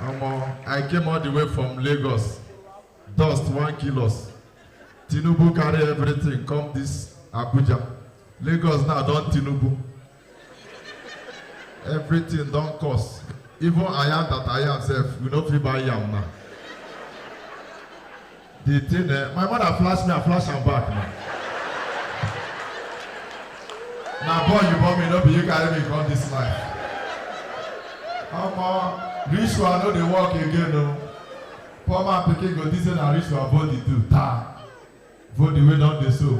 Omo, I came all the way from Lagos. Dust one kilos. Tinubu carry everything come this Abuja. Lagos now don Tinubu. Everything don cost. Even I am that I am sef, we no fit buy yam now. The thing eh, my mother flash me, I flash am back na. Na boy you born me, no be you carry me come this life. Omo, rich one no dey work again o. Poor man pikin go think say na rich one body do ta. Body wey don dey so.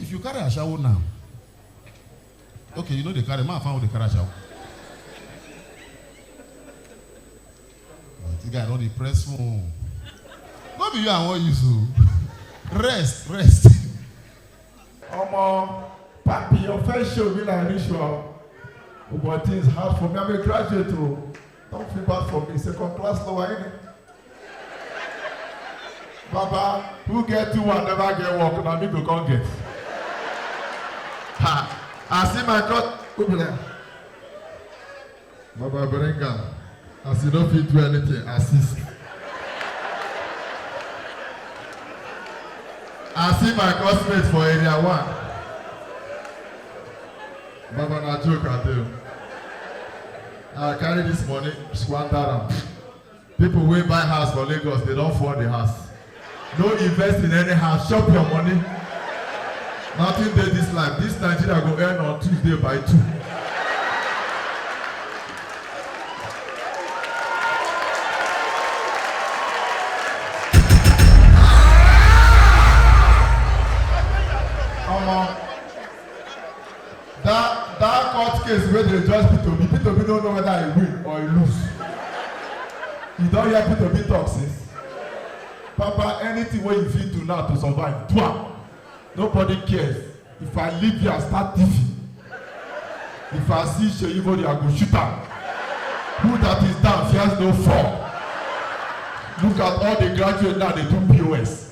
If you carry ashawo now, okay, you know they carry man found they carry ashawo. But the guy don't depress phone. No be you I want use o. Rest, rest. Omo, papi, your first show be like ritual. But things hard for me. I'm a graduate o. Don't feel bad for me. Second class lower in it. Baba, who get two and never get work, na me go come get. Ha! I see my God. Who be like, Baba bring am. As you no fit do anything, assist. I see my classmate for area one. Baba na joke I do. I carry this money, squander am. People wey buy house for Lagos, they don fall the house. No invest in any house, chop your money. Nothing dey this life. This Nigeria go end on Tuesday by two. Omo, That that court case wey dey judge Peter Obi, Peter Obi no know whether he win or he lose. You don hear Peter Obi talk since? Papa, anything wey you fit do now to survive, do am. Nobody cares. If I leave here, I start thieving. If I see Seyi Bode, I go shoot am. Who that is down fears no fall. Look at all the graduates now, they do POS.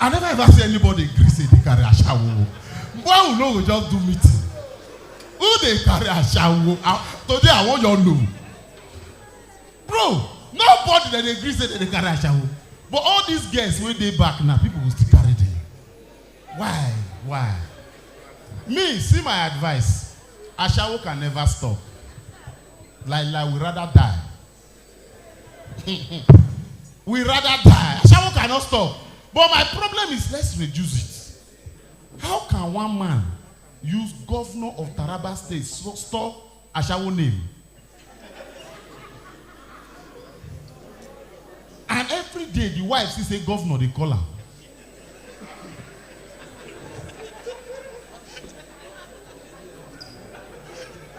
I never ever see anybody gree say dey carry ashawo. Why we no go just do meeting? Who dey carry ashawo? Ah, Today I wan your know. Bro, nobody that dey gree say dem dey carry ashawo. But all these girls wey dey back now, people go still carry them. Why? Why? Me, see my advice. Ashawo can never stop. Like like we rather die we rather die. Ashawo cannot stop. But my problem is let's reduce it. How can one man use governor of Taraba state so store Ashawo name? And every day the wife still say governor dey call am.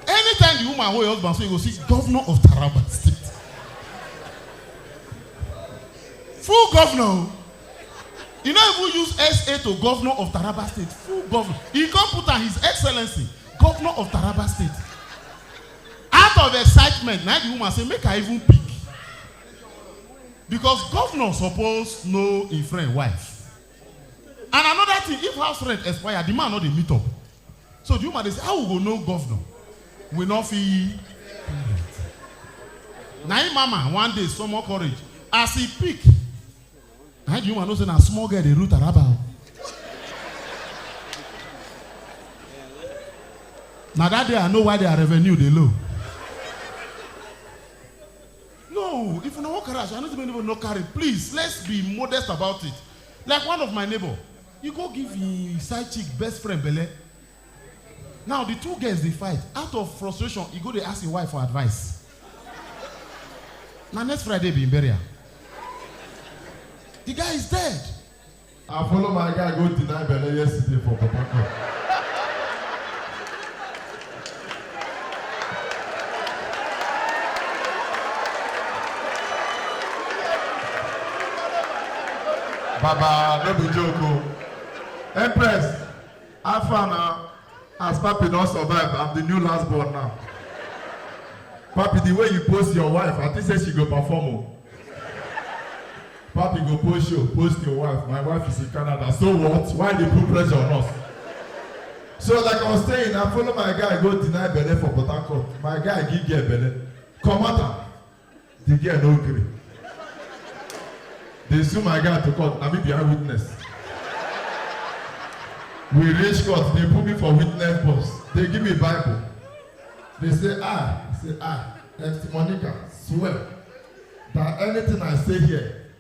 Anytime the woman hold your husband, so you go see governor of Taraba State. Full governor. o. You no even use SA to governor of Taraba State. Full governor. He come put am his excellency, governor of Taraba State. Out of excitement, na the woman say make I even pick. Because governor suppose know im friend wife. And another thing, if house rent expire, the man no dey meet up. So the woman dey say, how we go know governor? We no fit pay rent. Na im mama one day summon courage as e pick. Na im the woman know say na small girl dey rule Taraba o. Na that day I know why their revenue dey low. No if una wan carry aso I no say make anybody no carry please let's be modest about it like one of my neighbor e go give him side chick best friend belle now the two girls dey fight out of frustration e go dey ask him wife for advice na next Friday be him burial the guy is dead. I follow my guy go deny belle yesterday for Port Harcourt. Baba, no be joke o. Empress, How far na? As papi don survive, I'm the new last born now. Papi, the way you post your wife, I think say she go perform o. Papi go post show, post your wife. My wife is in Canada. So what? Why they put pressure on us? So like I was saying, I follow my guy go deny belle for Port Harcourt. My guy give girl belle. Comot am. The girl no gree. They sue my guy to court. Na me be eyewitness. We reach court. They put me for witness box. They give me Bible. They say I, say I, Esther Monica, swear that anything I say here,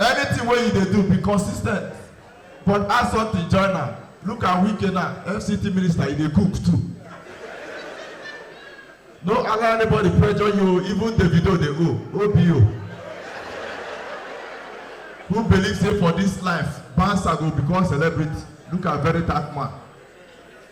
Anything wey you dey do, be consistent. But add something join am, look at Wike now, FCT minister, he dey cook too. No allow anybody pressure you o, even Davido dey owe, OBO. Who believe say for this life, bouncer go become celebrity, look at Veritach man.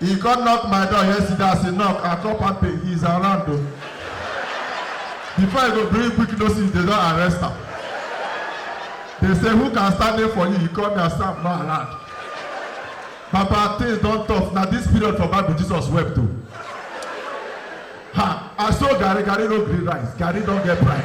He come knock my door yesterday as he knock I come pack pay he is around o. Before he go bring quick notice they don arrest am. They say who can stand in for you he come me I say I'm not around. Baba things don tough na this period for Bible Jesus wept o. Ha I saw garri garri no gree rice garri don get pride.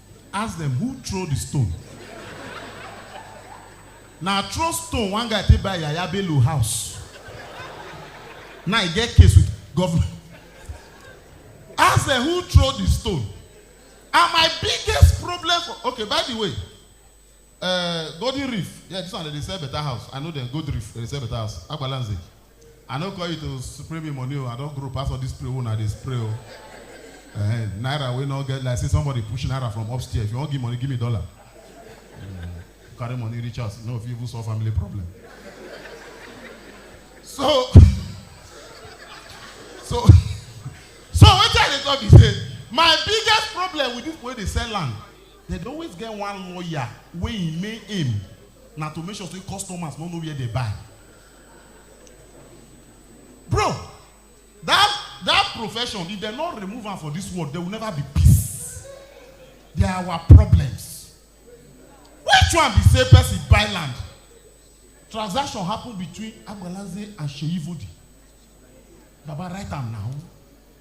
Ask dem who throw the stone. Na throw stone one guy take buy Yaya Bello house. Now he get case with government. Ask dem who throw the stone. And my biggest problem for okay by the way, Eh, Golden Reef, yeah, this one dem dey sell better house. I know dem, Gold Reef, dem dey sell better house. Agbalanze, I no call you to spray me money o, I don grow pass all this spray wey una dey spray o. Eh, naira wey no get, like say somebody push naira from upstairs. If you wan give money, give me dollar. Mm, carry money reach house, you no go fit even solve family problem. So, so, so wetin I dey talk be say, my biggest problem with people wey dey sell land Dem dey always get one lawyer wey im main aim na to make sure say customers no know where dem buy. Bro, that that profession if dem no remove am for this world there will never be peace. They are our problems. Which one be say person buy land, transaction happen between Agbalanze and Seyi Vodi? Baba write am now.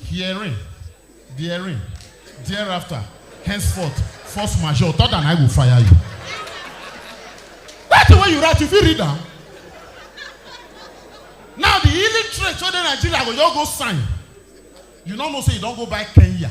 Hearing, daring, thereafter, henceforth, force majeure, third and I go fire you. That thing wey you write, you fit read am. Now the illiterate wey dey Nigeria go just go sign. You no know say you don go buy Kenya.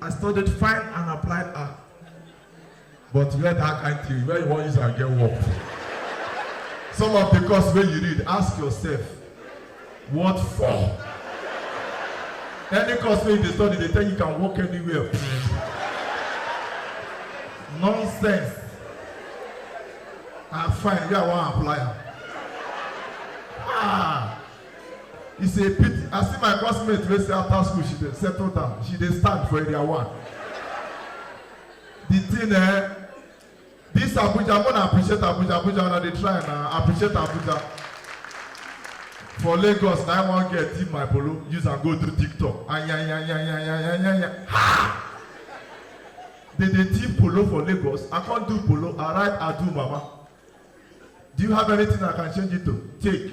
I studied fine and applied art. But where that kind thing, where you wan use am get work? Some of the course wey you read, ask yourself, what for? Any course wey you dey study, dey tell you can work anywhere. Nonsense. I find where I wan apply am. Ah! It's a pity. I see my classmate wey say after school she dey settle down. She dey stand for area one. The thing eh, this Abuja, more appreciate Abuja. Abuja, una dey try na appreciate Abuja. For Lagos, na I wan get in my polo, use am go do TikTok. Ayayayayayayaya. Ha! They dey thief polo for Lagos. I can't do polo. I write Adu Mama. Do you have anything I can change it to? Take.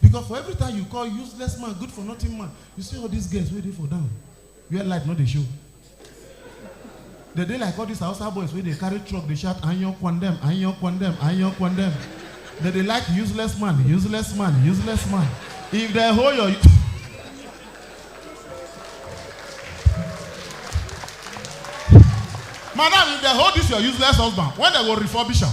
Because for every time you call useless man good for nothing man, you see all these girls wey dey for down where light no dey show. Dem dey like all these Hausa boys wey dey carry truck dey shout anyan kwandem, anyan kwandem, anyan kwandem. Dem dey like useless man, useless man, useless man. If dem hold your Madam, if dem hold this your useless husband, when dem go refurbish am?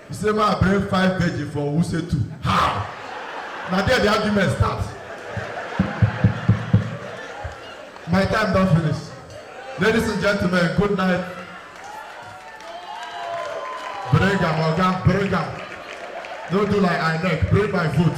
He say ma bring five virgin for Wuse too. How? Na there the argument start. My time don finish. Ladies and gentlemen, good night. Bring am, oga, bring am. No do like INEC, bring my vote.